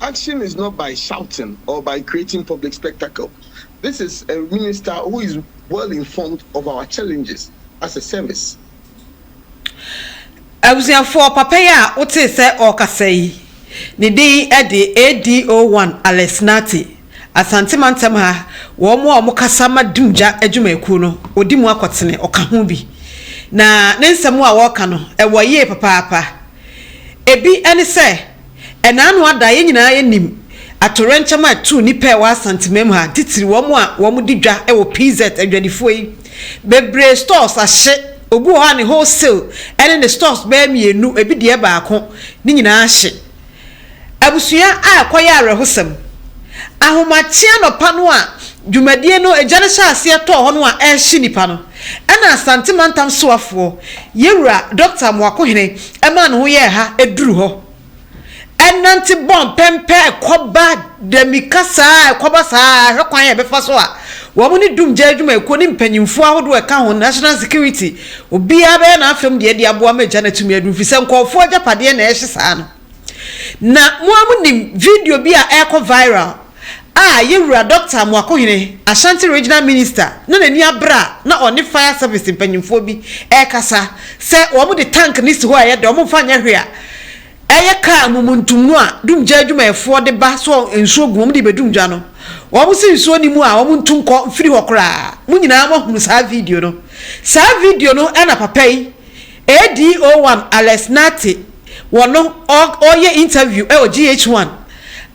Action is not by shouting or by creating public spectacle, this is a minister who is well informed of our challenges as a service. Abusuafoɔ, papa yi a wotee sɛ ɔrekasa yi, ne din de ADO One Alex Nartey, Asante Mantam ha, wɔn a wɔkasa ma Dumgya adwumakuo no, ɔdi mu akɔtene, ɔka ho bi. Na ne nsɛm a ɔreka no, ɛwɔ yie papaapa. Ebi ne sɛ. Ɛna ano ada a, yɛn nyinaa yɛnim atoyerɛnkyɛm a ɛtoo nnipa a ɛwɔ Asantemam ha, titiri wɔn a wɔdi dwa wɔ PZ, adwadifoɔ yi. Bebree stores ahye, obi wɔ hɔ a ne wholesale ne ne stores bɛyɛ mmienu, ebi deɛ baako, ne nyinaa ahye. Abusua a ɛkɔyɛ awerɛhosɛm. Ahomakye anɔpa no a dwumadie no, gya no hyɛɛ aseɛ tɔɔ hɔ no a, ɛrehye nnipa no. Ɛna Asante Mantam Soafoɔ Yɛwura Dɔkta Amoakohene ɛmaa ne ho yɛɛ ha ɛduru hɔ. Ɛnante bɔɔ mpɛmpɛ ɛkɔba dɛmika saa ɛkɔba saa ɛhwɛ kwan a ɛbɛfa so a wɔn ne Dumgya Adwumayɛkuo ne mpanyinfoɔ ahodoɔ a ɛka ho National Security obiara bɛyɛ n'afam deɛ de aboa ma gya no atumi aduru fisɛ nkɔɔfoɔ agyapadeɛ na ɛhye saa no. Na mo ara monim video bi a ɛrekɔ viral a yɛn wura Dɔkta Amoakohene, Ashanti Regional Minister, na n'ani abere a na ɔne Fire Service mpanyimfoɔ bi rekasa sɛ wɔde tank no si hɔ a ɛyɛ dɛ, wɔmfa nyɛ hwee a ɛyɛ kaa momontom no a dumgya adwumayɛfoɔ de ba sɛ nsuo gu wɔn de rebɛdum gya no. Wɔn se nsuo nni mu a wɔntu nkɔ mfiri hɔ koraa. Mo nyinaa moahunu saa video no. Saa video no na papa yi ADO1 Alex Nartey wɔ no ɔɔyɛ interview ɛwɔ GH1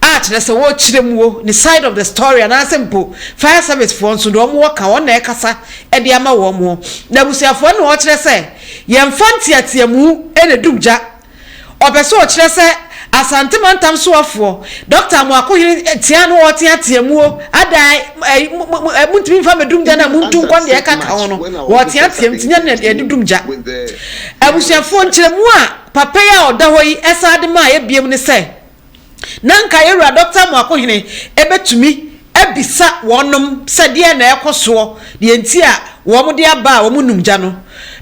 a kyerɛ sɛ wɔɔkyerɛ muo ne side of the story anaasɛ mpo fire service foɔ nso deɛ wɔn wɔ ka wɔn na ɛkasa de ama wɔn. N'abusuafoɔ no na wɔɔkyerɛ sɛ yɛnfa nteateamu na ɛdum gya. Ɔpɛ sɛ ɔkyerɛ sɛ Asante mantam soafoɔ Doctor Amoakohene teaa no ɔɔteatea muo adaae ɛɛ montumi mfa mmɛdum gya no a montu nkɔ no deɛ ɛka ka ho no ɔɔteatea mu nti nyɛ no na yɛde dum gya. Abusuafoɔ nkyerɛmu a papa yi a ɔda hɔ yi san de maa yɛ biom ne sɛ, Na anka yɛ Wura Dɔkta Amoakohene bɛtumi abisa wɔnom sɛ deɛn na ɛrekɔ soɔ, deɛ nti a wɔn de aba a wɔn nnum gya no.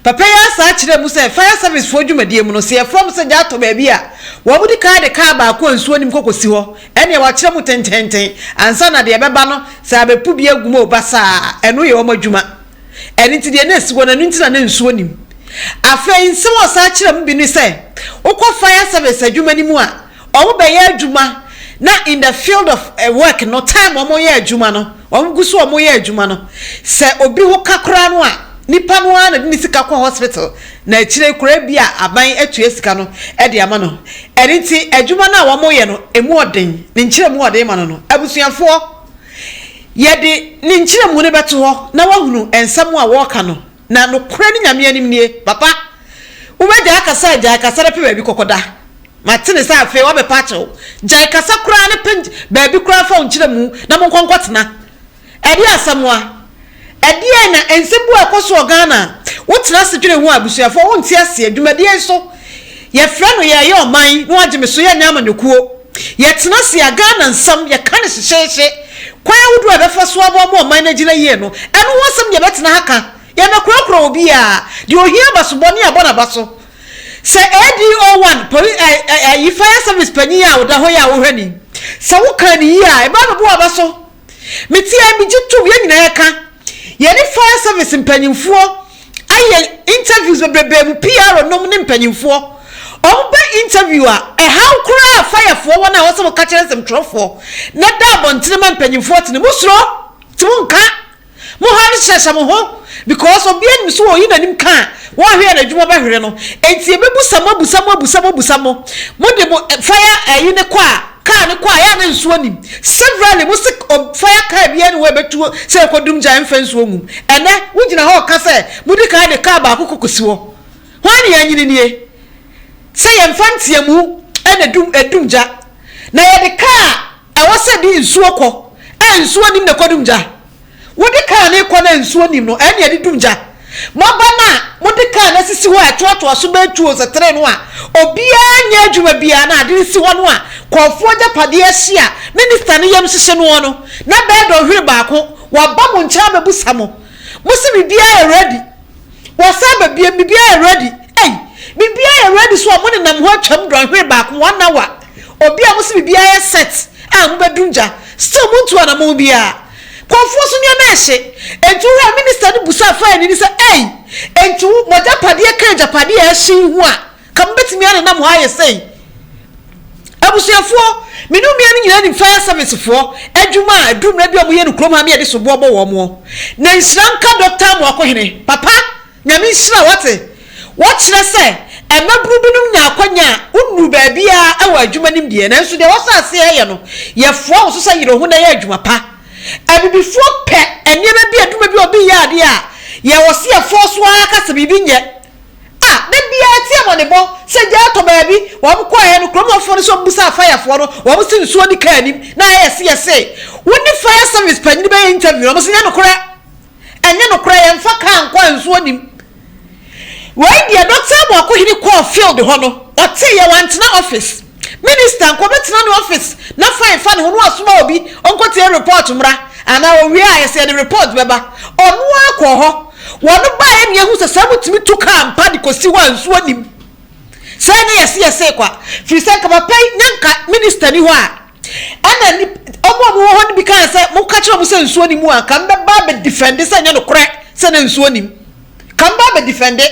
Papa yi ara saa kyerɛɛ mu sɛ Fire Service foɔ dwumadie mu no, sɛ yɛfrɛ wɔn sɛ gya atɔ baabi a, wɔn di kan de kaa baako a nsuo nnim kɔ kɔsi hɔ, ɛnneɛ wɔakyerɛ mu tententen ansa na deɛ ɛbɛba no, sɛ abɛpu bi agu mu o, basaa, ɛno yɛ wɔn adwuma. Ɛno nti, deɛ na ɛsi hɔ no, ɛno nti na na nsuo nnim. Afei, nsɛm a ɔsan kyerɛɛ mu bi ne sɛ, wokɔ fire service adwuma no mu a, wɔbɛyɛ adwuma na in the field of work no, time wɔyɛ adwuma no, wɔgu so wɔyɛ adwuma no, sɛ obi ho ka koraa no a, nipa no ara na de ne sika kɔ hospital, na akyire yi koraa ebia aban atua sika no de ama no. Ɛno nti, adwuma no a wɔyɛ no, ɛmu ɔden. Ne nkyerɛmu a ɔde rema no no, abusuafoɔ, Yɛde ne nkyerɛmu no bɛto hɔ na woahunu nsɛm a wɔreka no, na nokorɛ no Nyame anim nie. Papa, wobɛgyae kasa a gyae kasa na pɛ baabi kɔkɔda. Mate ne sɛ afei woabɛpɛ akyɛ wo. Gyae kasa koraa na pɛ baabi koraa fa wo nkyerɛmu na monkɔ nkɔtena. Ɛdeɛ asɛm a. Ɛdeɛn na nsɛm bi wɔ a ɛkɔ so wɔ Ghana a wotena ase dwene ho a abusuafoɔ wonte aseɛ? Dwumadie yi so yɛfrɛ no Yɛreyɛ Ɔman na wɔagye me so yɛnyɛ amanyɔkuo. Yɛtena ase a, Ghana nsɛm yɛka no hyehyeehye. Kwan ahodoɔ a yɛbɛfa so aboa ma ɔman no agyina yie no, ɛno ho asɛm na yɛbɛtena ha ka. Yɛmmɛkorɔkorɔ obiara. Deɛ ɔhia abasobɔ ne abɔ no abaso. Sɛ ADO1 poli ɛ ɛ ayi fire service panin a ɔda hɔ yi a wohwɛ no yi, sɛ wokaa no yie a, ɛbɛabɛbɔ w'abaso. Mete a megye tom, yɛn nyinaa yɛka. Yɛne fire service mpanyimfoɔ ayɛ interviews bebrebe mu, PR nom ne mpanyimfoɔ. Wɔn ba interview a, ɛhaw koraa firefoɔ wɔn a wɔsɛ wɔka kyerɛ nsɛmtwerɛfoɔ na da abɔntene ma mpanyimfoɔ tene. Mo suro, nti mo nka. Mo ha no hyɛhyɛ mo ho because obia nim so oyi nanim ka a wɔnhwɛ a nadwuma bɛhwere no enti yɛbɛbusa mo abusa mo abusa mo abusa mo mo de mo fire ayi no kɔ a car no kɔ a yɛ a na nsuo nim severally mo se fire car biaa ni hɔ a ɛbɛtuo sɛ ɛkɔ dum gya ɛmfa nsuo ngu mu ɛnɛ wogyina hɔ ka sɛ modi kan de car baako kɔ kɔsi hɔ hwan ne yɛanyini nie sɛ yɛmfa nteamu ɛna dum ɛdum gya na yɛde car Ɛwɔ sɛ de nsuo kɔ a nsuo nim na ɛkɔdum gya. Wode kaa no rekɔ no a nsuo nim no, ɛnneɛ de dum gya. Moaba no a mode kaa no asisi hɔ a ɛtoatoa so bɛyɛ tuo sɛ tire no a obiara nyɛ adwuma biara na ade si hɔ no a kɔɔfoɔ agyapadeɛ ahye a minista no yam hyehye noɔ no na bɛyɛ dɔnhwere baako. Wɔaba mo nkyɛn abɛbusa mo. Mose biribiara yɛ ready. Wɔasan ba bio, biribiara yɛ ready. Ei, biribiara yɛ ready so a monenam hɔ atwam dɔnhwere baako, one hour. Obi a mose biribiara yɛ set a mobɛduru gya, still montu anammɔn biara. Kɔmfoɔ so nneɛma rehye. Enti wohwɛ a minister no busaa faani no sɛ, Ei, enti wo, mo agyapadeɛ ka agyapadeɛ a ɛrehye yi ho a, Ka mubetumi anenam hɔ ayɛ sɛn? Abusuafoɔ, me ne mmea no nyinaa nim fire service foɔ adwuma a aduru mmerɛ bi a wɔyɛ no kurom ha ne yɛde soboɔ bɔ wɔn moɔ. Na nhyira nka Doctor Amoakohene, papa, Nyame nhyira wo wate? Wɔkyerɛ sɛ mmabunu binom nya akwanya a wonnuru baabiara wɔ adwuma nim deɛ nanso deɛ wɔsɔ aseɛ ɛyɛ no yɛfoa wo so sɛ yere wo ho na yɛ adwuma pa. Abibifoɔ pɛ nneɛma bi adwuma bi a obi yɛ adeɛ a yɛwɔ se yɛfoɔ so ara ka sɛ biribi nyɛ a da biara ɛte amɔnebɔ sɛ gya atɔ baabi. Wɔn kɔeɛ no, kurom hɔfoɔ no nso bisaa fayafoɔ no, wɔn se nsuo di kaa anim na ɛyɛ se yɛ se wo ne fire service panyini bɛyɛ interview no, wɔn se nyɛ nokorɛ, ɛnyɛ nokorɛ, yɛmfa kaa nkɔ a nsuo nnim. Wei deɛ Dɔkta Amoako Hene kɔɔ field hɔ no, ɔteeɛ, wantena office. Minister nka ɔbɛtena ne office na fine fa ne ho na wasoma obi ɔnkɔtie report mmra anaa ɔwie a ɛsɛ yɛde report bɛba ɔno ara kɔɔ hɔ wɔn baeɛ ne yɛhu sɛ saa motumi to kaa mpa de kɔsi hɔ a nsuo nim sɛ ne yɛse yɛse kwa firi sɛ nka papa yi na nka minister ni hɔ a ɛna ni ɔmo a mowɔ hɔ no bi kaa sɛ moka kyerɛ ɔmo sɛ nsuo nim a nka mbɛba bɛ defend sɛ nyɛ nokorɛ sɛ na nsuo nim kan ba abɛdifɛnde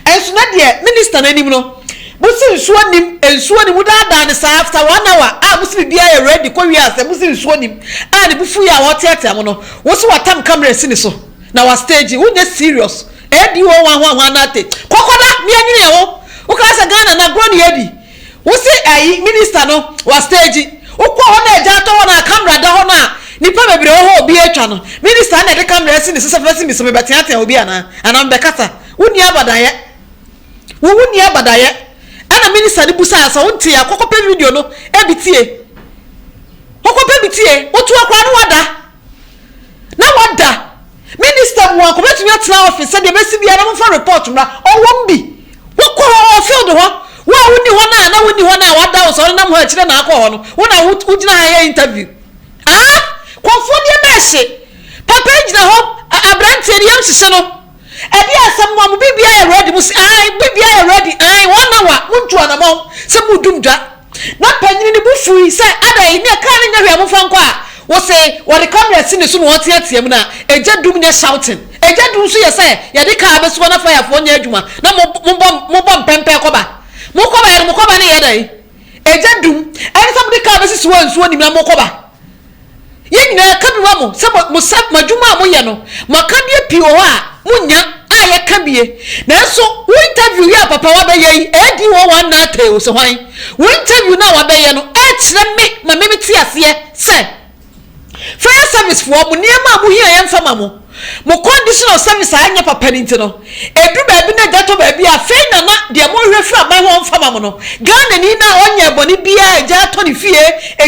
nso na deɛ minister no anim no mosi nsuo nnim nsuo nnim wodaadaa no saa after one hour a mosi biribiara yɛ ready kɔ wie asɛ mosi nsuo nnim a ne bufu yɛ a ɔteatea mo no wosi watam camera asi ne so na wa stage wonyɛ serious ADO ho ahoahoa no ate kɔkɔda mianwene yɛ ho wokra sɛ Ghana na agorɔ ne yɛdi Wosi ayi minister no wa stage wokɔ hɔ na agya atɔ hɔ na camera da hɔ no a nipa bebree wɔ hɔ obi atwa no minister no na ɛde camera asi ne so sɛ bɛsi miso mebɛteatea obi anaa anaa mebɛkasa wonni abadayɛ wo wonni abadayɛ ɛna minister no busaa sɛ wonte a kɔkɔpɛ video no ebi tie kɔkɔpɛ bi tie wotoa koraa no wada na wada minister mu a nka obetumi atena office sɛdeɛ bɛsi biara na momfa report mmra ɔwom bi wokɔ hɔ wɔ field hɔ wo a wonni hɔ no a na wonni hɔ no a wada wo sɛ ɔnenam hɔ akyirɛ na akɔ hɔ no wo na wogyina ha yɛ interview ah kɔfoɔ deɛ mɛhye papa gyina hɔ aberanteɛ no yam hyehye no Ɛdeɛ asɛm no a mo biribiara yɛ ready mo se ae biribiara yɛ ready ae one hour mo ntu anamɔn sɛ mo dum dwa na panyini ne bo fui sɛ ada yi ne kaa ne nyɛ hwɛ mo fa nkɔ a wose wɔde camera si ne so na ɔteatea mu na egya dum nyɛ shouting egya dum nso yɛ sɛ yɛde kaa bɛsoa na fayafoɔ nyɛ adwuma na mo mobɔ mo bɔ mpɛmpɛ kɔba mo kɔba yɛ no mo kɔba ne yɛ dɛn egya dum ɛne sɛ mo de kaa bɛsisi hɔ a nsuo nim na mo kɔba Yɛn nyinaa yɛka bi ma mo sɛ mo mo sa mo adwuma a moyɛ no mo akadeɛ pii wɔ hɔ a monya a yɛka bie nanso wo interview yi a papa wabɛyɛ yi ɛyɛ di wɔ wɔn nan tee o sɛ hwan wo interview no a wabɛyɛ no ɛkyerɛ me ma me te aseɛ sɛ fire service foɔ mo nneɛma a mohia yɛmfa ma mo Mo condition of service a ɛnyɛ papa no nti no, ɛduru baabi na gya tɔ baabi a, afei na na deɛ mohwehwɛ firi aban hɔ ɔmfa ma mo no, Ghanani no a ɔnyɛɛ bɔne biara a gya atɔ ne fie,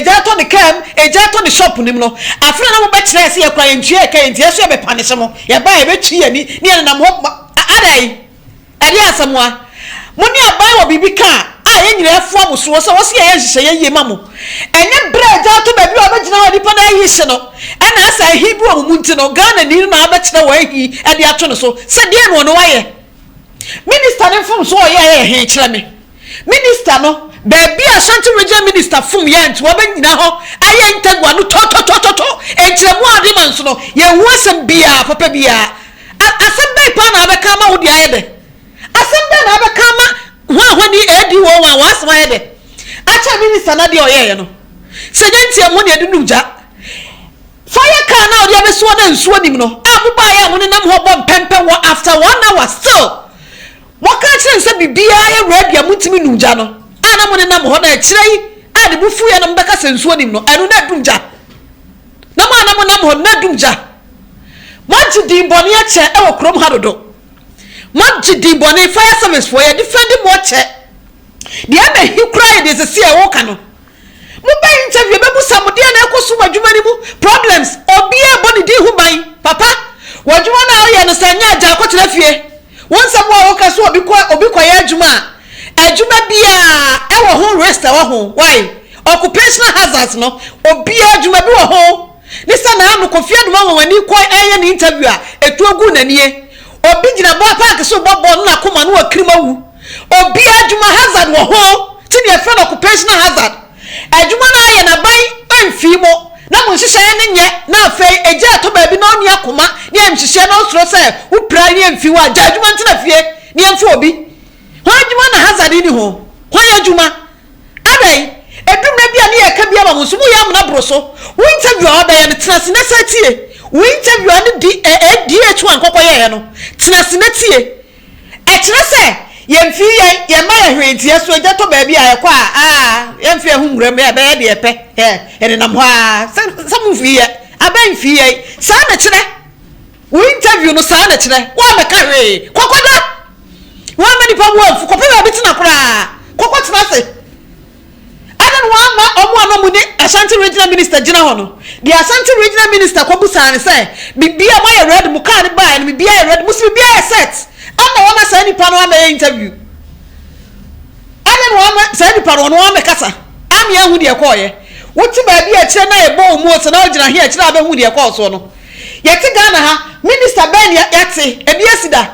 gya atɔ ne kaa mu, gya atɔ ne shop no mu no, afei na na mobɛkyerɛ yɛn sɛ yɛn koraa yɛntua yɛn ka, enti yɛn nso yɛbɛpanish mo, yɛba a yɛbɛtwi yɛn ani na yɛnenam hɔ ma, adɛn? Ɛdeɛn asɛm wa? Mo ne aban wɔ biribi ka a yɛn nyinaa fua mo soɔ sɛ wɔse yɛyɛ nhyehyɛeɛ yie ma mo. Ɛnyɛ berɛ a agya ato baabi a ɔbɛgyina wɔ nipa no ahi hye no na asɛ ahi bi wɔ mo mu nti no Ghanani no na abɛkyerɛ wɔ ahi de ato ne so sɛ deɛn na ɔno wayɛ? Minister no mfomsoɔ a ɔyɛeɛ yɛ he? Kyerɛ me. Minister no baabi a Ashanti Region Minister fom yɛ nti wɔbɛ nyina hɔ ayɛ ntagua no tɔtɔtɔtɔtɔ nkyerɛmu a ɔde ma nso no yɛn hu asɛm biaa papa biaa a asɛm bɛn paa na abɛ ka ama wode ayɛ dɛ asɛm bɛn na abɛ ka ama hɔ a hɔ ni ADO wɔn a wɔn asɛm ayɛ dɛ akyɛ Minister no adeɛ ɔyɛɛ yɛ no sɛ nyɛ nti ɛmu deɛ de num gya fire car no a ɔde abɛsi hɔ no nsuo nim no a mo baayɛ a mo nenam hɔ bɔ mpɛmpɛn wɔ after one hour still Wɔka kyerɛɛ no sɛ biribiara yɛ Rabi a montumi nnom gya no a na monenam hɔ na ɛkyerɛ yi a ne bo fuiɛ na mobɛka sɛ nsuo nim no ɛno na adum gya na mo a na monam hɔ no na adum gya moagye din bɔne akyɛ ɛwɔ kurom ha dodo moagye din bɔne fire service foɔ yɛde fɛndi mo akyɛ deɛ ɛbɛhi koraa yɛ deɛ sɛsi a ɛwoka no Mo bɛ interview ɛbɛbusa mo deɛ na ɛkɔ so wɔ adwuma no mu problems obiara ɛbɔ ne din ho ban papa wɔ adwuma no a woyɛ no sɛ nyɛ agya kɔtena fie wo nsɛm wo a woka so obi kɔ obi kɔyɛ adwuma a adwuma biara ɛwɔ ho risk ɛwɔ ho why occupational hazards no obiara adwuma bi wɔ ho ne sɛ na ano kɔfi adoma wɔn ani kɔ ɛyɛ ne interview a ɛtuo gu n'anie obi gyina bɔ park so bɔ bɔɔl no na koma no wɔ kirima wu Obiara adwuma hazard wɔ ho nti na yɛfrɛ no occupational hazard. Adwuma no ara yɛ na aban amfii mo na mo nhyehyɛeɛ no nyɛ na afei agya a ɛtɔ baabi na ɔnni akoma ne ayamhyehyeɛ na ɔsuro sɛ wo pira ne yɛmfii hɔ a gya adwuma ntena fie na yɛmfa obi ho adwuma na hazard nni ho hwan yɛ adwuma adɛn ɛduru mmerɛ bi a ne yɛka bi ama mo nso moyɛ amena boro so wo interview a wabɛyɛ no tena ase na sɛ tie wo interview a ne DH1 kɔkɔyɛeɛ no tena ase na tie Ɛkyerɛ sɛ yɛmfiri yɛn yɛn mma yɛn hwee nti, yɛso agya tɔ baabi a ɛkɔ a, aa, yɛmfa yɛn ho nwura mu, yɛbɛyɛ deɛ yɛpɛ, ɛ, yɛnenam hɔ aa, sɛ, sɛ momfiri yɛ, abɛn mfiri yɛn. Saa na ɛkyerɛ. Wo interview no saa na ɛkyerɛ. Woammɛka hwee. Kɔkɔda! Woamma nnipa bo amfu. Kɔpɛ baabi tena koraa. Kɔkɔtena ase. Adɛn na wamma wɔn a na wɔde Ashanti Regional Minister gyina hɔ no? Deɛ Ashanti Regional Minister kɔbisaa no sɛ, Biribiara moayɛ ready? Mo kaa no baeɛ no, biribiara yɛ ready? Mo se biribiara yɛ set? Ama wɔama saa nipa no ammɛyɛ interview? Adɛn na wamma saa nipa no ɔno wammɛkasa? Ame ahu deɛ ɛkɔɔeɛ. Wote baabi a akyire na ɛbɔ wɔn mu ose na wogyina he a akyire a wobɛhu deɛ ɛkɔɔ soɔ no. Yɛte Ghana ha, Minister bɛn na yɛate? Ebi asi da?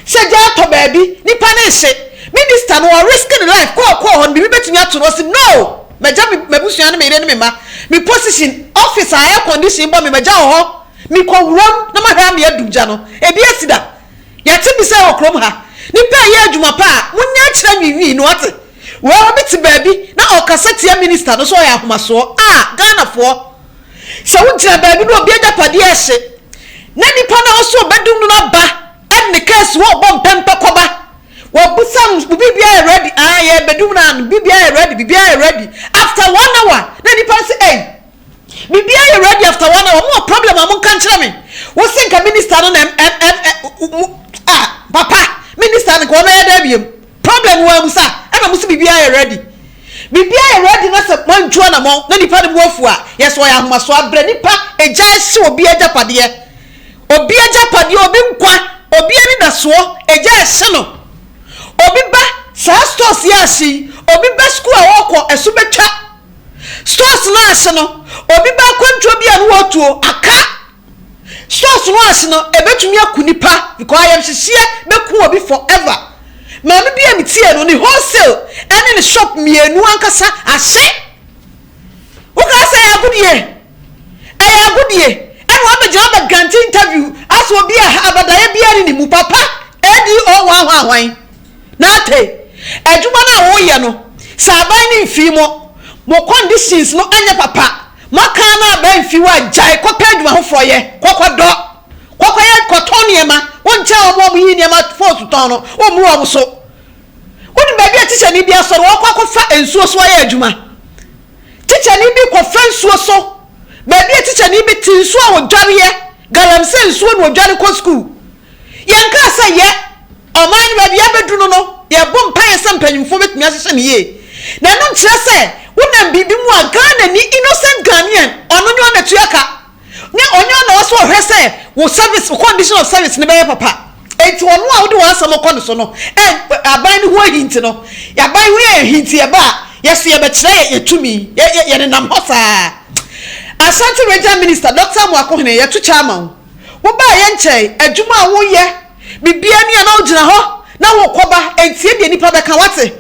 Sɛ gya tɔ baabi, nipa no nhye. Minister no, ɔ risk ne life kɔɔ kɔɔ hɔ no, biribi bɛtumi ato no, ɔse no! Magya me m'abusua ne me yere ne me mma, me position, office a air condition bɔ me, magya wɔ hɔ, me kɔ wuram na mahwɛ ama yɛadum gya no. Ebi asi da. Yɛte bi sɛɛ wɔ kurom ha. Nipa ɛyɛ adwuma pa a, mo nyɛ akyerɛ nwiinwii no, wate? Wei obi te baabi na ɔkasa tia minister no sɛ ɔyɛ ahomasoɔ, ah! Ghanafoɔ! Sɛ wogyina baabi na obi agyapadeɛ rehye, na nipa no nso ɔbɛdum no aba ne case hɔ ɔbɔ mpɛmpɛ kɔba, wɔbusa no wo biribiara yɛ ready, ah yɛ bɛdum no ano, biribiara yɛ ready, biribiara yɛ ready, after one hour na nipa no sɛ ei, biribiara yɛ ready after one hour, mo wɔ problem a mo nka nkyerɛ me, wo se nka minister no na ɛm ɛm ɛm ah papa minister no nka wɔn ayɛ dɛ abiem. Problem no wɔamu sa ɛna ɔmo se biribiara yɛ ready biribiara yɛ ready na sɛ wɔantu anamɔn na nipa no bo afu a yes wɔyɛ ahomaso abrɛ nipa egya ɛhye obi agyapadeɛ obi agyapadeɛ obi nkwa obi anidasoɔ egya ɛhye no obi ba saa stores yi ahye yi obi ba school a ɔɔkɔ ɛso bɛtwa stores no ahye no obi ba akwantuo bi a no wɔtuo aka Stress ho ase no ebetumi aku nipa because ayamhyehyeɛ bɛku obi forever. Maame bi a me tiee no ne wholesale ɛne ne shop mmienu ankasa ahye. Wo kaa sɛ ɛyɛ agodie, ɛyɛ agodie ɛna wabɛgyina abɛ grante interview as obi a abadaeɛ biara ne ne mu papa ADO hwan hwan hwan. Nate, adwuma no a wo yɛ no sɛ aban ne mfii mo, mo conditions no ɛnyɛ papa. Maka no aba mfi hɔ a gyae kɔpɛ adwuma foforɔ yɛ, kɔkɔdɔ, kɔkɔyɛ kɔtɔn nneɛma, wonkyɛ wɔn a wɔyi nneɛma phones tɔn no wommu wɔn so. Wonim baabi a tikyani bi asɔre ɔkɔ akɔfa nsuo so ayɛ adwuma? Tikyani bi kɔfa nsuo so baabi a tikyani bi te nsuo a ɔdwareɛ, galamsey nsuo na ɔdware kɔ sukuu. Yɛnkaa sɛ yɛ ɔman no baabi a abedu no no, yɛrebɔ mpaeɛ sɛ mpanyimfoɔ bɛtumi ahyehyɛ no yie. Na ɛno nkyerɛ sɛ wonam biribi mu a Ghanani, innocent Ghanaian, ɔno nyɛ ɔn na tua ka. Ne ɔnyɛ ɔn na ɔwɔ sɛ ɔhwɛ sɛ wo service, wo condition of service no bɛyɛ papa. Enti ɔno a wode w'asɛm kɔ no so no, ɛ, aban no ho ahi nti no, aban ho yɛ ahi nti ɛba a, yɛ so yɛbɛkyerɛ yɛ, yɛ tumi, yɛ, yɛ, yɛnenam hɔ saa. Ashanti Regional Minister, Doctor Amoako Hene, yɛto kyɛ ama wo. Wobaa yɛn nkyɛn, adwuma a woyɛ, biribiara ni a na wogyina hɔ na wokɔba, entie deɛ nnipa bɛka, woate?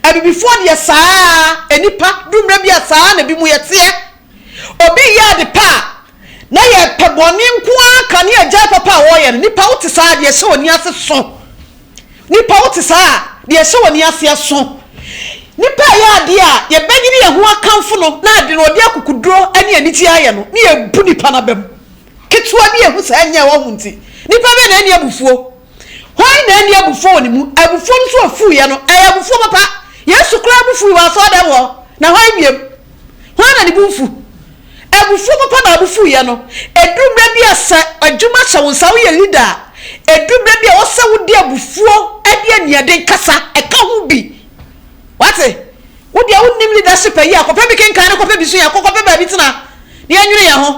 Abibifoɔ deɛ saa ara, nnipa, duru mmerɛ bi a saa ara na binom yɛteɛ. Obi reyɛ ade pa a, na yɛpɛ bɔne nko ara ka ne yɛagyae papa a ɔreyɛ no. Nnipa wote saa a, deɛ ɛhyɛ w'ani ase so? Nnipa wote saa a, deɛ ɛhyɛ w'ani aseɛ so? Nnipa reyɛ adeɛ a, yɛbɛnyini yɛn ho akamfo no, na ade no, ɔde akukuduro ne anigyeɛ ayɛ no, ne yɛbu nnipa no abam. Ketewa bi a ehu saa nyaa ɔhome nti, nnipa bɛn na anni abufuo? Hwan na anni abufuo wɔ ne mu? Abufuo no nso a ofuiɛ no, ɛyɛ abufuo papa. Yesu koraa bo fui wɔ asɔrdan mu hɔ, na hwan biom? Hwan na ne bo mfu? Abufuo papa na ɔbo fuiɛ no. Ɛduru berɛ bi a sɛ adwuma hyɛ wo nsa, woyɛ leader a, ɛduru berɛ bi a ɛwɔ sɛ wode abufuo ne aniɛden kasa, ɛka ho bi. Wate? Wo deɛ wo nim leadership ayi a kɔpɛ bi kenkan ne kɔpɛ bi sua kɔ kɔpɛ baabi tena na yɛ nwene yɛ ho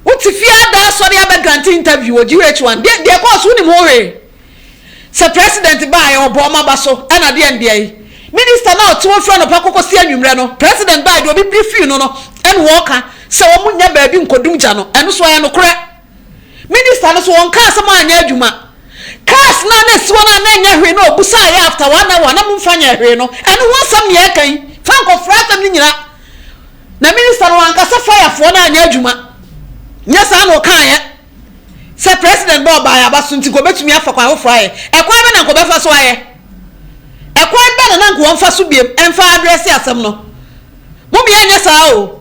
wo te fie ada asɔre abɛ grante interview wɔ GH1 deɛ deɛ ɛkɔɔ so wo nim ho hwee sɛ president baa yɛ ɔbɔ ɔma ba so ɛna deɛ ndeɛ yi minister na ɔte hɔ firi anɔpa kɔkɔ si anwummerɛ no president baa deɛ obi bi fii no no ɛna ɔka sɛ wɔn nyɛ baabi nkɔdum gya no ɛno so ayɛ nokorɛ. Minister no so ɔnkaa asɛm a anyɛ adwuma. Cars no a na ɛsi hɔ no a na ɛnyɛ hwee na ɔbusaeɛ after one hour na momfa nyɛɛ hwee no, ɛno ho asɛm nea ɛka yi, fa nkɔfra asɛm no nyina na minister no wankasa fire foɔ no anyɛ adwuma. Nyɛ saa na ɔkaeɛ sɛ president bɛ ɔbaeɛ aba so nti nka ɔbɛtumi afa kwan foforɔ ayɛ. Ɛkwan bɛ na nka ɔbɛfa so ayɛ? Ɛkwan bɛ na na nka wɔmfa so biam ɛmfa address asɛm no? Momyɛ nyɛ saa o,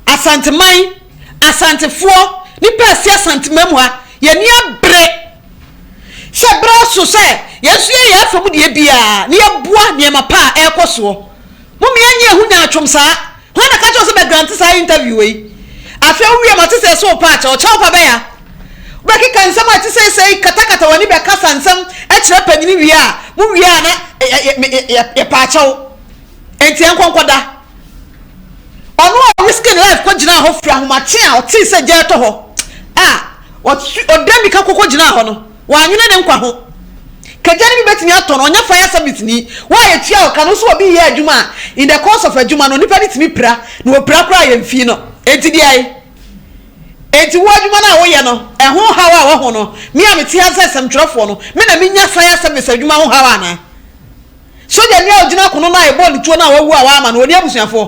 Asanteman. Asantefoɔ, nnipa a ɛse Asanteman mu ha, yɛn ani abere sɛ berɛ aso sɛ yɛn nso yɛyɛ afa mu deɛ biara na yɛboa nneɛma pa a ɛrekɔ soɔ. Mom yɛnyɛ ɛho nyaatwom saa. Hwan na ɛka kyerɛ wo sɛ bɛ grante saa interview wei? Afei wo wie ma te sɛ ɛse wo pa akyɛ, ɔkyɛ wo pa bɛn a? Wobɛkeka nsɛm a ɛte sɛ sei katakata w'ani bɛkasa nsɛm kyerɛ panyini wie a, mo wie a na yɛpɛ akyɛ wo. Enti ɛnkɔ nkɔda. Ɔno a ɔriske ne life kogyinaa hɔ firi ahomakye a ɔtee sɛ gya retɔ hɔ a, ɔtwe, ɔdan mirika kɔ kogyinaa hɔ no, wannwene ne nkwa ho. Ka gya no bi betumi atɔ no, ɔnyɛ fire service-ni, wo a yɛtua wo ka no, wo nso obi yɛ adwuma a, in the course of adwuma no, nnipa no tumi pira, na wɔpira koraa a, yɛmfii no. Enti deɛ enti wo adwuma no a woyɛ no, ɛho haw a wahu no, me a mete ha sɛ asɛmtwerɛfoɔ no, me na menya fire service adwuma ho haw anaa? Sodjani a ogyina kono no a yɛbɔɔ no tuo no a wawu a w'ama no, ɔni abusuafoɔ?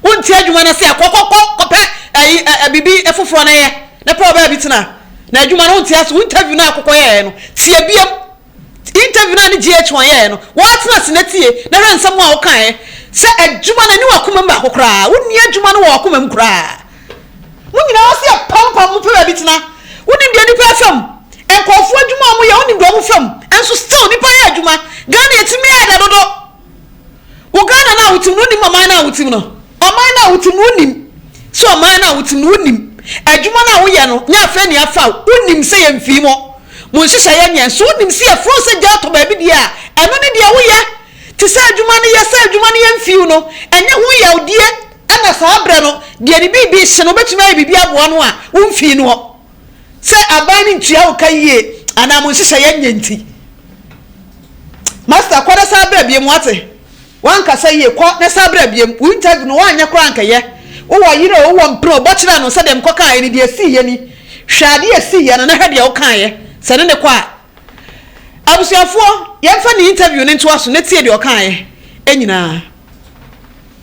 Wonte adwuma no aseɛ a? Kɔ kɔ kɔ kɔpɛ ɛyi ɛ ɛ biribi foforɔ no yɛ na pɛ ɔbaa bi tena. Na adwuma no wonte aseɛ, wo interview no a kɔkɔ yɛɛɛ no tie biam. Interview no a ne GH1 yɛɛɛ no waa tena ase na tie na hwɛ nsɛm a wokaeɛ. Sɛ adwuma no ɛni w'akoma mu baako koraa, wonni adwuma no wɔ w'akoma mu koraa. Mo nyinaa ɔsɛ yɛ pampam mo pɛ baabi tena. Wonim deɛ nipa ɛfɛ mu. Nkorɔfoɔ adwuma a ɔmo yɛ wonim deɛ ɔmo fɛ mu. Nso still nipa yɛ adwuma. Ghana yɛtumi yɛ dɛ dodo. Wo Ghana no a wotim no wonim ɔman no a wotim no. Ɔman no a wotim no wonim sɛ ɔman no a wotim no wonim adwuma no a woyɛ no nyɛ afɛ ni afa o. Wonim sɛ yɛ mfii mo mo nhyehyɛ yɛ nyɛ. Nso wonim sɛ yɛ frɛ wo sɛ gya tɔ baabi deɛ a ɛno ne deɛ woyɛ. Te sɛ adwuma no yɛ sɛ adwuma no yɛ mfii wo no ɛnyɛ ho yaw die. Ɛna saa berɛ no deɛ ne biribi rehye no wobɛtumi ayɛ biribi aboa no a wo mfii noɔ sɛ aban no ntua wo ka yie anaa mo nhyehyɛeɛ nyɛ nti. Master kɔ na san bra biom wate? Woankasa yie kɔ na san bra biom wo interview no woanyɛ koraa nkɛyɛ wowɔ yere o wowɔ mpene o bɔ kyerɛ no sɛ deɛ mekɔkaaeɛ no deɛ ɛsiiɛ ni hwɛ adeɛ a ɛsiiɛ no na hwɛ deɛ wokaaeɛ sɛ ne ne kɔ a Abusuafoɔ yɛmfa ne interview no ntoa so na tie deɛ ɔkaaeɛ nyinaa.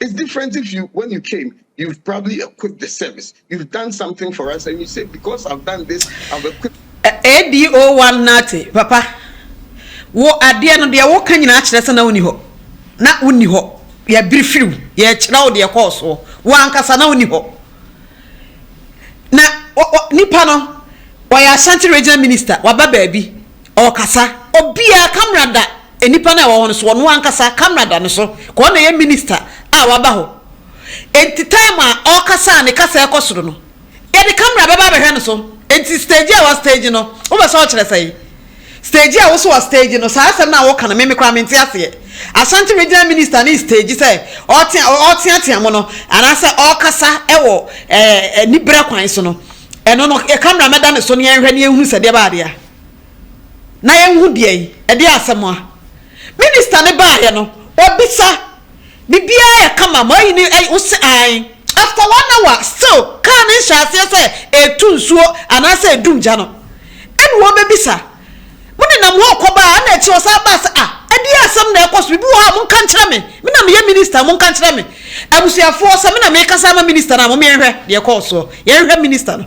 It's different if you, when you came, you've probably equipped the service. You've done something for us and you say, because I've done this, I've equipped. ADO one nate, papa. Wo adeɛ no deɛ woka nyinaa kyerɛ sɛ na woni hɔ na woni hɔ yɛbiri firiw yɛkyerɛ wo deɛ kɔɔ soɔ wo ankasa na woni hɔ na nipa no wɔyɛ Ashanti regional minister waba baabi Ɔkasa, obiara camera da nnipa no a ɛwɔ hɔ no so, ɔno ankasa camera da ne so, ka ɔna ɛyɛ minister a waba hɔ, enti time a ɔkasa a ne kasa ɛkɔ soro no, yɛde camera bɛba abɛhwɛ no so, enti stage a wa stage no, wopɛ sɛ ɔkyerɛ sɛn? Stage a wo so wa stage no, saa asɛm no a wo ka no, me me koraa mente aseɛ, Ashanti regional minister no stage sɛ ɔtea, ɔteatea mo no, anaasɛ ɔkasa ɛwɔ ɛɛ anibrɛ kwan so no, ɛno no camera mɛda ne so ne yɛnhwɛ ne yɛnhunu sɛdeɛ ɛbaa adeɛ a. na yɛnhu deɛ yi, ɛdeɛ asɛm a. Minister no baeɛ no, ɔbisa, Biribiara yɛ kama, moayi no ayi? Wose aane. After one hour, still car no nhyɛɛ aseɛ sɛ ɛretu nsuo anaasɛ ɛredum gya no, ɛna wɔbɛbisa, Monenam hɔ rekɔba a? Ɛna akyire ɔsan baa sɛ, Ah, ɛdeɛ asɛm na ɛrekɔ so? Biribi wɔ hɔ a monka nkyerɛ me? Me na meyɛ minister, monka nkyerɛ me. Abusuafoɔ, sɛ me na merekasa ama minister no a, momma yɛnhwɛ deɛ ɛkɔɔ soɔ. Yɛnhwɛ minister no.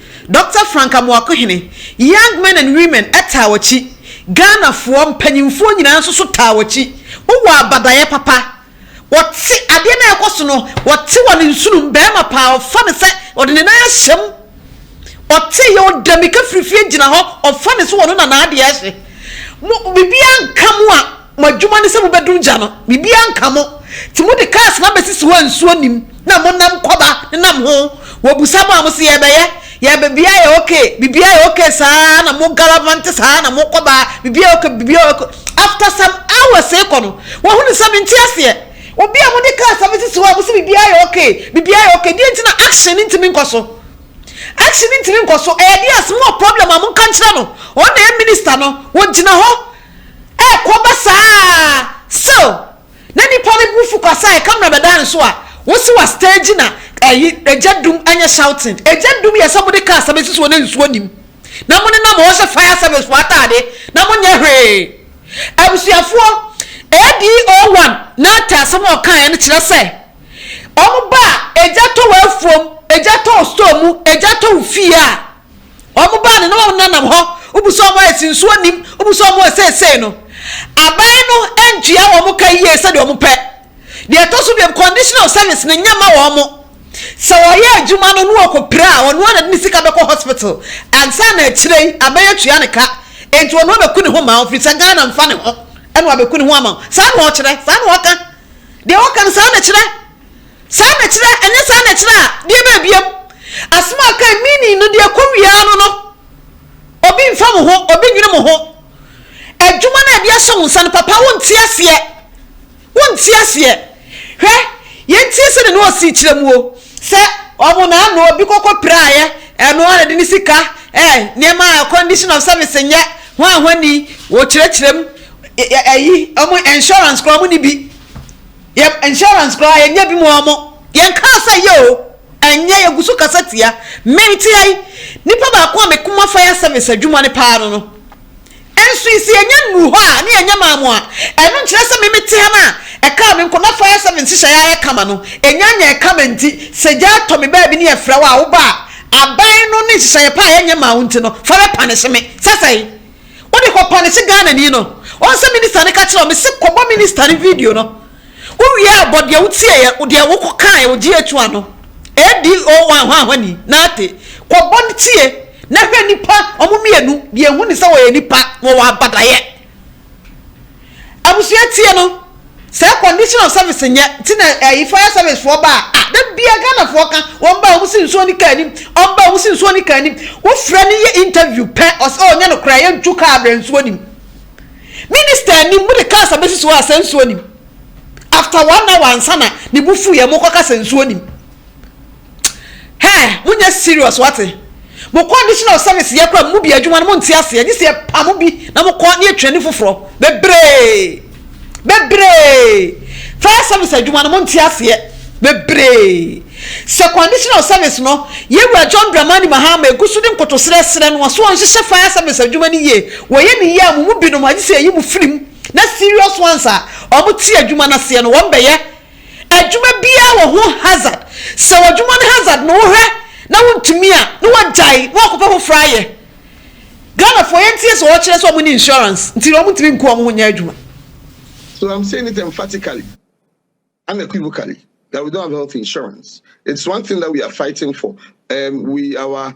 Dɔkta Frank Amoakohene, Young Men and Women taa w'akyi, Ghanafoɔ mpanyinfoɔ nyinaa nso so taa w'akyi, wowɔ abadaeɛ papa, wɔte adeɛ no a ɛkɔ so no, wɔte wɔn nsonom, barima paa, ɔfa no sɛ ɔde ne nan ahyɛ mu, ɔte yɛ ɔda mika firi fie gyina hɔ, ɔfa no sɛ ɔno na n'adeɛ ahyɛ mo, biribiara nka mo a, Mo adwuma ne sɛ mobɛdum gya no, biribiara nka mo. Nti mode cars no abɛsisi hɔ a nsuo nnim, na monam kɔba nenam ho. Wɔbusa mo a, mose yɛrebɛyɛ, yɛrebɛ, biribiara yɛ ok, biribiara yɛ ok saa na mo gallavante saa na mokɔ ba, biribiara yɛ ok, biribiara yɛ ok. After some hours rekɔ no, wɔhunu sɛ mente aseɛ. Obi a mode cars abɛsisi hɔ a mose biribiara yɛ ok, biribiara yɛ ok, deɛ nti na action no ntumi nkɔ so? Action no ntumi nkɔ so, ɛyɛ deɛ as mowɔ problem a monka nkyerɛ no, ɔno na ɛyɛ minister no, wɔgyina hɔ. Ɛrekɔba saa ara still na nnipa no bu fu kwa sɛ camera bɛda nso a wosi wa stage na ɛyi egya dum ɛnyɛ shouting egya dum yɛ sɛ mode car sa bɛsi soɔ na nsuo nim na mo nenam hɔ hyɛ fire service foɔ ataade na mo nyɛ hwee abusuafoɔ ADO one na te asɛm a ɔkaeɛ no kyerɛ sɛ wɔn ba a egya tɔ wɔ afuom egya tɔ wɔ store mu egya tɔ wɔ fie a Wɔn baa no na wɔn nenam hɔ, wobu sɛ wɔn ayɛ si nsuo nim, wobu sɛ wɔn ayɛ seesei no. Aban no ntua wɔn ka yie sɛdeɛ wɔn pɛ. Deɛ ɛtɔ so biom, conditional service no nyɛ ma wɔn. Sɛ wɔyɛ adwuma no na wɔkɔ pira a, ɔno ara na de ne sika bɛkɔ hospital. Ansa na akyire yi, aban atua ne ka. Enti ɔno abɛku ne ho ma wo, firi sɛ Ghana mfa ne ho. Ɛna wabɛku ne ho ama wo. Saa na ɔkyerɛ, saa na ɔka. Deɛ ɔka no saa na ɛkyerɛ. Saa na ɛkyerɛ, ɛnyɛ saa na ɛkyerɛ a, deɛ bɛɛ biam. Asɛm a ɔkae, meaning no, deɛ ɛkɔ wie ara no no, obi mfa mo ho, obi nnwene mo ho. Adwuma no a ɛde ahyɛ wo nsa no, papa, wonte aseɛ. Wonte aseɛ. Hwɛ, yɛntie sɛdeɛ na ɔsii kyerɛ mu o, sɛ wɔn na ano obi kɔkɔ piraeɛ, ɛno ara na ɛde ne sika, eh, nneɛma a condition of service nyɛ hwanhwani, wɔkyerɛkyerɛ mu, ɛyi, wɔn insurance koraa wɔn ni bi. Yɛn insurance koraa yɛnyɛ bi moa mo yɛn kaa sɛ yɛ o ɛnyɛ yɛ gu so kasa tia me nti ai nipa baako a me koma fire service adwuma no paa no no nso yi sɛ yɛnya nnuru hɔ a ne yɛnyɛ maa mo a ɛno nkyerɛ sɛ me me te ha no a ɛkaa me nko na fire service nhyehyɛeɛ ayɛ kama no ɛnya nyɛɛ kama nti sɛ gya tɔ me baabi ne yɛfrɛ wo a wo ba a aban no ne nhyehyɛeɛ pa a yɛnyɛ maa wo nti no fa bɛ panish me sɛ sɛe Wode kɔ pane se Ghanani no ɔn sɛ minister no ka kyerɛw me se kɔbɔ minister no video no wowie a bɔ deɛ wotieɛ deɛ wokɔ kaeɛ wɔ GH one no ADO one hwanhwani Naate kɔbɔ no tie na hwɛ nipa ɔmo mmienu deɛ ehu ne sɛ wɔyɛ nipa na wɔwɔ abadaeɛ. Abusua tie no saa condition of service nyɛ ti na ɛyi fire service foɔ ba a ah da bia Ghana foɔ ka wɔn ba wɔn si nsuo ne kaa nim wɔn ba wɔn si nsuo ne kaa nim wofrɛ ne yɛ interview pɛ ɔsɛ ɔnyɛ no koraa yɛ ntu kaa brɛ nsuo nim minister anim mo de cars abɛsi so a sɛ nsuo nim after one hour ansa na ne bu fu yɛ mo kɔ ka sɛ nsuo nim. Hɛn mo nyɛ serious wate. Mo kɔ additional service yɛ koraa mo mu bi adwuma no mo nte aseɛ gye sɛ yɛ pa mo bi na mo kɔ na yɛ twɛni foforɔ bebree bebree fire service adwuma no mo nte aseɛ bebree sɛ kɔ additional service no yɛ wura John Dramani Mahama egu so de nkotosrɛ srɛ no ɔso ɔnhyehyɛ fire service adwuma no yie wɔ yɛ ne yie a mo mu binom agye sɛ yɛyi mo firim na serious ones a wɔn te adwuma no aseɛ no wɔn bɛyɛ Adwuma biara wɔ ho hazard, sɛ w'adwuma no hazard no wohwɛ na wontumi a na wagyae na wakɔpɛ foforɔ ayɛ. Ghanafoɔ yɛnteɛ sɛ wɔkyerɛ sɛ wɔnni insurance nti na wɔntumi nku wɔn ho nyɛ adwuma. So I'm saying it emphatically, unequivocally that we don't have health insurance. It's one thing that we are fighting for. Um, we, our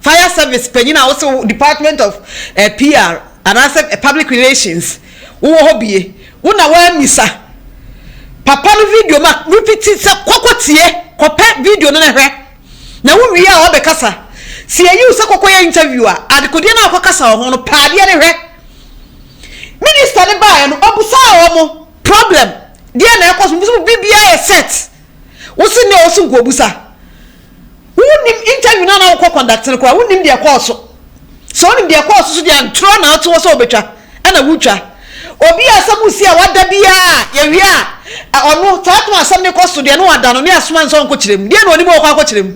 Fire service panyin a wose wo department of eh PR anaasɛ eh public relations wowɔ hɔ bie wo na woammisa papa no video ma repiti sɛ kɔ kɔ tie kɔpɛ video no na hwɛ na wo wie a wabɛkasa sɛ yɛyi wo sɛ kɔkɔ yɛ interview a adekodeɛ no a wokɔkasa wɔ ho no pɛ adeɛ no hwɛ minister no baeɛ no ɔbusaa wɔ mo problem deɛ na ɛkɔ so mo so biribiara yɛ set wo se ne ɔso nkobusa Wonnim interview no a na wokɔ conduct no koraa wonnim deɛ ɛkɔɔ so. Sɛ wonim deɛ ɛkɔɔ so so deɛ antorɔ na wote hɔ sɛ wobɛtwa ɛna wotwa. Obi a asɛm resi a wada biara yɛwie a ɛ ɔno saa to asɛm no kɔ so deɛ na wada no ne asoma no sɛ ɔnkɔkyerɛ mu. Deɛ na ɔnim a ɔkɔ akɔkyerɛ mu.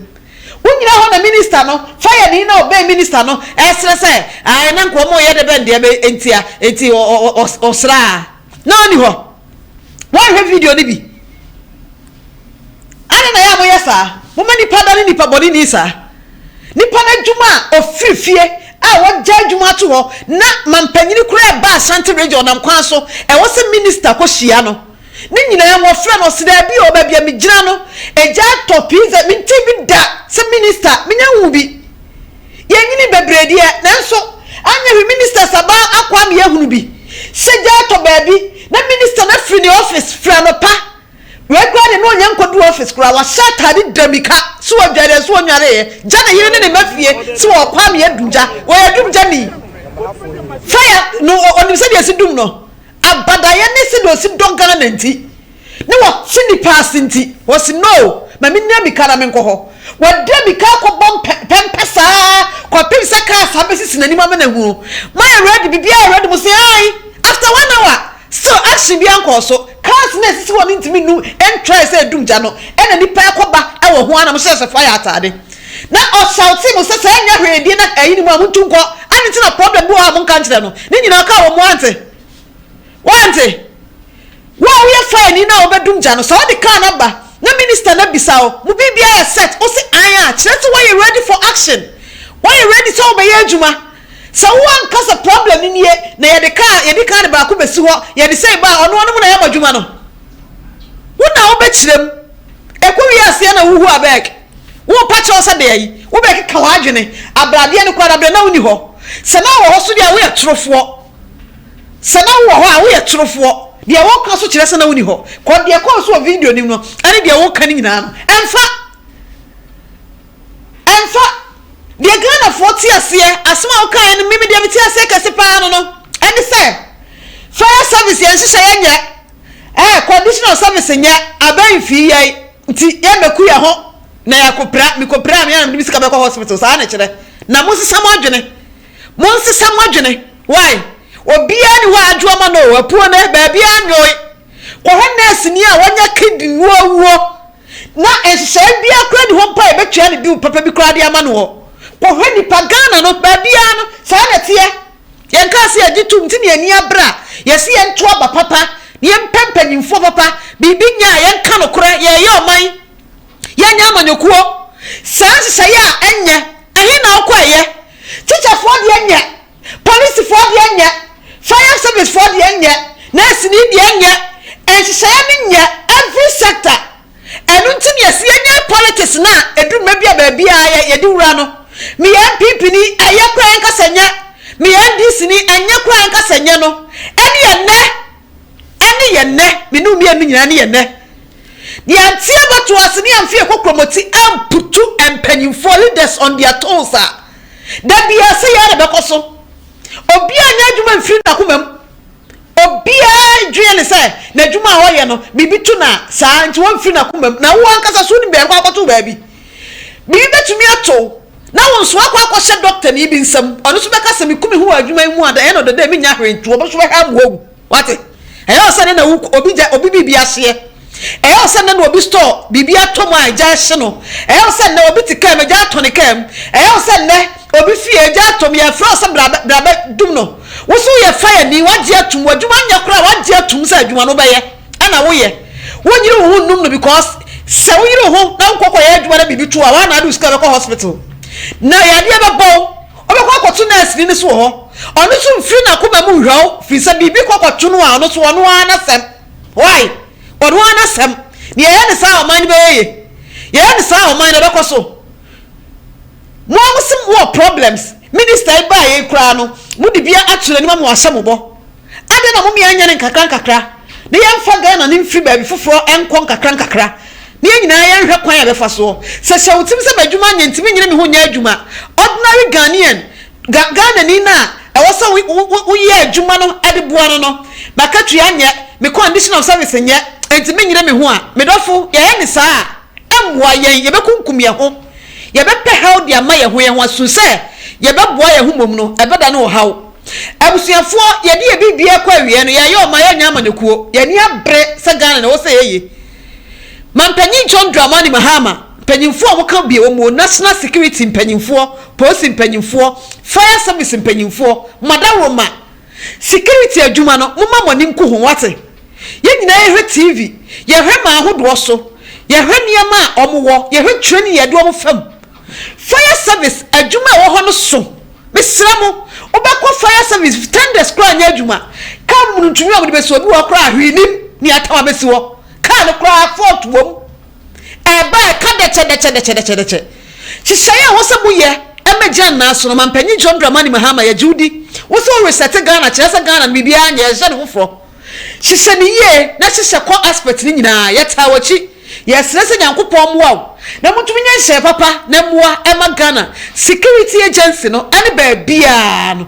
Wonyina hɔ na minister no fire ni na ɔbɛn minister no ɛresrɛ sɛ ae na nka wɔreyɛ dɛ bɛn deɛ bɛ ntia nti ɔ ɔ ɔ ɔsraa. na ɔnni hɔ. Woanhwɛ video no bi? Adɛn na ɛyɛ a moyɛ saa? Moma nnipa dane nnipa bɔne ni saa. Nnipa no adwuma a ɔfiri fie a wɔagya adwuma ato hɔ na mampanyini koraa ɛba Ashanti region nam kwan so ɛwɔ sɛ minista kɔhyia no ne nyinaa mu ɔfrɛ no ɔse daabi o baabi a megyina no agya atɔ pizza mentee bi da sɛ minista menya nwu bi Yɛnyini bebree deɛ, nanso anyɛ hwee ministers aba akɔ ama yɛahunu bi sɛ gya atɔ baabi na minister no afiri ne office firi anɔpa. Wei koraa deɛ na ɔnyɛ nkɔduru office koraa, wahyɛ ataade da mika sɛ ɔdwareɛ nso ɔnnwareeɛ, gya ne yere ne ne mma fie sɛ wɔrekɔ ama yɛadum gya. Ɔyɛ dum gyani. Fire no ɔnim sɛdeɛ ɛsi dum no. Abadaeɛ ne sɛdeɛ ɔsi dɔ Ghana nti. na wɔte nnipa ase nti, wɔse no, ma mennya mmirika na menkɔ hɔ. Wɔde mmirika akɔbɔ mpɛ, pɛmpɛ saa kɔpem sɛ kaa saa bɛsisi n'anim ama no ahu no. Moayɛ ready? Biribiara yɛ ready? Mose ae. After one hour, still action biara nkɔɔ so. Cars no a ɛsisi hɔ no ntumi nnu ntrae sɛ ɛdum gya no, ɛna nnipa rekɔ ba wɔ ho ara na mohyehyɛ fire ataade. Na ɔshoutee mo sɛ, saa nyɛ hwee deɛ na ayi ne mu a, montu nkɔ. Ade nti na problem bi wɔ hɔ a monka nkyerɛ no? Ne nyinaa ɔkaa wɔn, moante. Woante? Wo a woyɛ faani no a wobɛdum gya no, sɛ wode kaa no aba na minista no abisa wo, mo biribiara yɛ set? Wose ae a, kyerɛ sɛ woayɛ ready for action. Woayɛ ready sɛ wobɛyɛ adwuma. Sɛ wo anka sɛ problem no nie, na yɛde kaa, yɛde kaa no baako bɛsi hɔ, yɛde sei ba a, ɔno ɔno mo na yɛabɔ adwuma no. Wo na wobɛkyerɛ mu. Ɛkɔ wie aseɛ na wohu abɛɛk. Wompa kyerɛ wo sɛ deɛ yi, wobɛkeka w'adwene. Abradeɛ no koraa, da berɛ na wonni hɔ. Sɛ na wowɔ hɔ so deɛ a, woyɛ torofoɔ. Sɛ na wowɔ hɔ a, woyɛ torofoɔ. Deɛ woreka nso kyerɛ sɛ na wonni hɔ. Kɔ, deɛ ɛkɔɔ so wɔ video no mu no, ɛne deɛ woreka no nyinaa no, ɛmfa. Ɛmfa. Deɛ Ghanafoɔ te aseɛ, asɛm a wokaeɛ no, me, me deɛ mete aseɛ kɛse pa ara no no, ɛne sɛ, Fire service yɛn nhyehyɛeɛ nyɛ, air conditional service nyɛ, abɛn mfii yɛn, nti yɛmmɛku yɛn ho na yɛakɔpira. Mekɔpiraa, me ara na mede me sika bɛkɔ hospital, saa na ɛkyerɛ. Na monsesa mo adwene. Monsesa mo adwene. Wai? Obiara nni hɔ a adwo ama no o, apuo no, baabiara nnwoe. Kɔhwɛ nɛɛseni a wanya kidney mu awuo na nhyehyɛeɛ biara koraa nni hɔ mpo a yɛbɛtua no bill papa bi koraa de ama no hɔ. Kɔhwɛ nnipa, Ghana no, baabiara no, saa na ɛteɛ. Yɛnkaa sɛ yɛgye tom nti na yɛn ani abere a, yɛse yɛnto aba papa na yɛmpɛ mpanyimfoɔ papa. Biribi nyɛ a, yɛnka nokorɛ, yɛreyɛ ɔman, yɛnyɛ amanyɔkuo. Saa nhyehyɛeɛ a ɛnyɛ, ɛhe na wokɔeɛ? Tikyafoɔ deɛ nyɛ, polisifoɔ deɛ nyɛ, fire service foɔ deɛ nyɛ, nɛɛseni deɛ nyɛ, nhyehyɛeɛ no nyɛ every sector. Ɛno nti na yɛse yɛnyɛ politics no a ɛduru mmɛ bi a baabiara yɛ yɛde wura no. Meyɛ NPP ni, ɛyɛ koraa yɛnka sɛ nyɛ, meyɛ NDC ni, ɛnyɛ koraa yɛnka sɛ nyɛ no ɛne ɛnnɛ. ɛne yɛn nnɛ, me ne wo mmienu no nyinaa ɛne yɛn nnɛ. Deɛ nti a bɛto ase ne amfi ɛkɔ kuromoti amputu mpanyinfoɔ, leaders on their toes a, da biara sɛ yɛa na bɛkɔ so. Obiara nyɛ adwuma mfiri n'akoma mu. Obiara dwene ne sɛ n'adwuma a ɔyɛ no, biribi to no a, saa nti wɔmfiri n'akoma mu. Na wo ankasa so wonim baabi kɔ akɔto baabi. Biribi betumi ato wo, na wo nso woakɔ akɔhyɛ dɔktani bi nsam. Ɔno nso bɛka sɛ, Miku me ho wɔ adwuma yi mu a, ɛyɛ no dɛ dɛ minnya hwee nto, ɔno nso bɛhwɛ ama wawu. Wate? Ɛyɛ wo sɛ nnɛ na wo obi gya obi biribi ahyeɛ. Ɛyɛ wo sɛ nnɛ na obi store biribi atɔ mu a agya ahye no. Ɛyɛ wo sɛ nnɛ obi te kaa mu, agya atɔ ne kaa mu. Ɛyɛ wo sɛ nnɛ obi fie, agya atɔ mu, yɛfrɛ wo sɛ bra bɛ bra bɛdum no. Wo nso woyɛ fire ni, woagye atom, w'adwuma nyɛ koraa, woagye atom sɛ adwuma no wobɛyɛ. ɛna woyɛ wonyere wo ho nnum no because sɛ woyere wo ho na wokɔ kɔyɛ adwuma na biribi to a wɔana ade wo sika bɛkɔ hospital na yadeɛ bɛbɔ wo wobɛkɔ akɔto nurse ni no so wɔ hɔ ɔno nso mfiri n'akoma mu nhwɛ wo firi sɛ biribi kɔ kɔto no a ɔno so ɔno ara n'asɛm why ɔno ara n'asɛm ne yɛyɛ ne saa ɔman no bɛyɛ ye yɛyɛ ne saa ɔman no bɛkɔ so mo a mo se mo wɔ problems minister yi baa yɛ koraa no mo de bia akyerɛ anim ama wɔahyɛ mo bɔ Adɛn na mommeɛ nyɛ no nkakrankakra, na yɛmfa Ghana no mfiri baabi foforɔ nkɔ nkakrankakra, na yɛn nyinaa yɛnhwɛ kwan a yɛbɛfa soɔ? Sɛ hyɛ wo tirim sɛ m'adwuma nyɛ nti mennyene me ho nyɛ adwuma, ordinary Ghanaian, Ga, Ghanani no a ɛwɔ sɛ wo, wo, wo, wo yɛ adwuma no de boa no no, m'akatua nyɛ, me condition of service nyɛ nti mennyene me ho a, me dɔfo, yɛyɛ no saa a, ɛmmoa yɛn, yɛbɛkunkum yɛn ho, yɛbɛpɛ haw de ama yɛn ho, yɛn ho asu sɛ yɛbɛboa yɛn ho mmom no, ɛbɛda no ɔhaw. Abusuafoɔ yɛde yɛ biribiara kɔ awieɛ no yɛyɛ ɔma yɛnyɛ amanyɔkuo yɛni abere sɛ Ghana na ɛwɔ sɛ yɛyɛ Mampanyin John Dramani Mahama mpanyinfoɔ a wɔka bie wɔn mu National Security mpanyinfoɔ Polisi mpanyinfoɔ Fire service mpanyinfoɔ Madawuroma Security adwuma no moma mo ani nku ho wate yɛn nyinaa yɛhwɛ TV yɛhwɛ ma ahodoɔ so yɛhwɛ nneɛma a wɔn wɔ yɛhwɛ train yɛde wɔn fam Fire service adwuma a ɛwɔ hɔ no so. Mesrɛ mo, wobɛkɔ fire service tenders koraa nyɛ adwuma. Car mu no ntumi a wɔde bɛsi hɔ, ebi wɔ hɔ koraa a hwee nnim nea ɛtɛm abɛsi hɔ. Car no koraa fault wɔ mu. Ɛreba a ɛka dɛkyɛ dɛkyɛ dɛkyɛ dɛkyɛ dɛkyɛ. Nhyehyɛe a ɛwɔ sɛ moyɛ ma Jan Nnaah so no, Ɔmampanyin John Dramani Mahama, yɛgye wo di. Wo sɛ wo reset Ghana kyerɛ sɛ Ghana no biribiara nyɛ, ɛnhyɛ no foforɔ. Hyehyɛ no yie na hyehyɛ kɔ aspect no nyinaa yɛtaa wakyi yɛsrɛ sɛ Nyankopɔn mmoa wo na motumi nyɛ nhyɛɛ papa na mmoa ɛma Ghana security agency no ɛne baabiaa no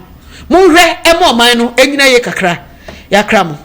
monhwɛ ɛma ɔman no ɛnyina yie kakra yɛakra mo.